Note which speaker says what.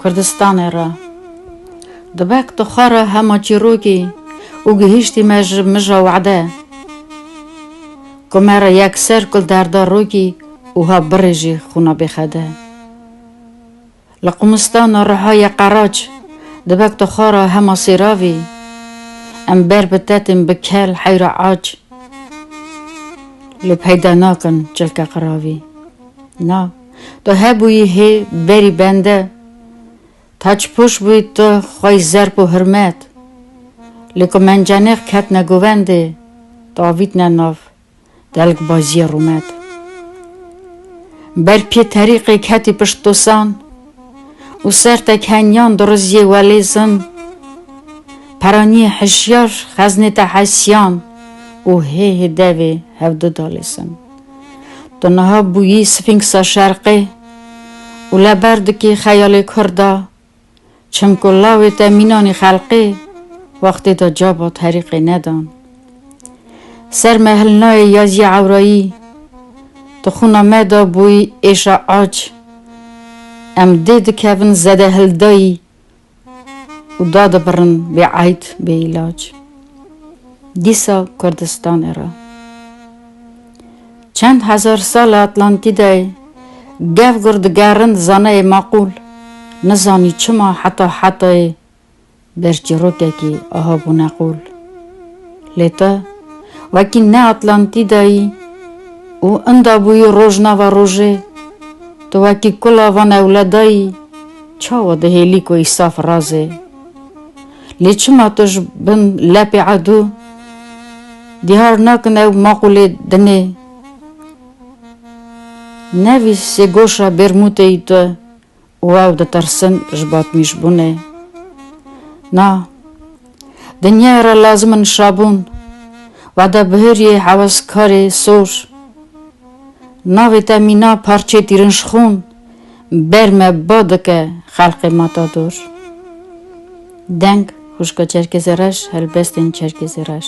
Speaker 1: Kurdistanê re. Dibek tu xwe re hema çîrokî û gihîştî me ji mija wede ku me re yekser kul derda rokî û ha birî jî xûna bêxede. Li Qumistana Rihayê Qeraç dibek tu xwe re hema sêravî em ber bi tetên bi kel heyra aç lê peyda nakin çilke qiravî. Na. Tu hebûyî hê berî bende. Taç pûş bûyî tu xweyî zerp û hirmet. Lê ku mencenêx ketine govendê, tu avîtine nav delkbazîyê rûmet. Ber pî terîqê ketî pişt dosan û ser te kenyan dirizîyê welê zim. Peranîyê hişyar xeznê te hesîyan û hê hê devê hevdu dalê sim. Tu niha bûyî Sfînksa Şerqê û li ber dikî xeyalê Kurd a, çimku lawê te mînanî xelqê wextê de cabat herîqê nedan. Ser me hilnayê Yazî Ewrayî, Tu xwina me da bûyî êşa ac, em dê dikevin zedehildayî, û dadibirin bê eyd bê îlac. Dîsa Kurdistanê re çend hezar sal e Atlantîdayê gev gur digerin zanayê maqûl nizanî çima heta hetayê ber çîrokekî aha bûne qûl. Lê te wekî ne Atlantîdayî û inda bûyî roj nava rojê, tu wekî kula van ewledayî, Çawa dihêlî ku Îsaf raz e? Lê çima tu ji bin lepê edû dîhar nakin ew maqûlê din ê? Nevî sêgoşa bêrmûteyî tu û ew ditirsin ji batmîjbûnê. Na, dinyayê re lazim in şabûn, wada bihêriyê heweskarê sor. Navê te mîna parçeyê tîrinşxûn. Ber me ba dike xelqê Matador. Deng, Xwişka Çerkêzê Reş, Helbestên Çerkêzê Reş.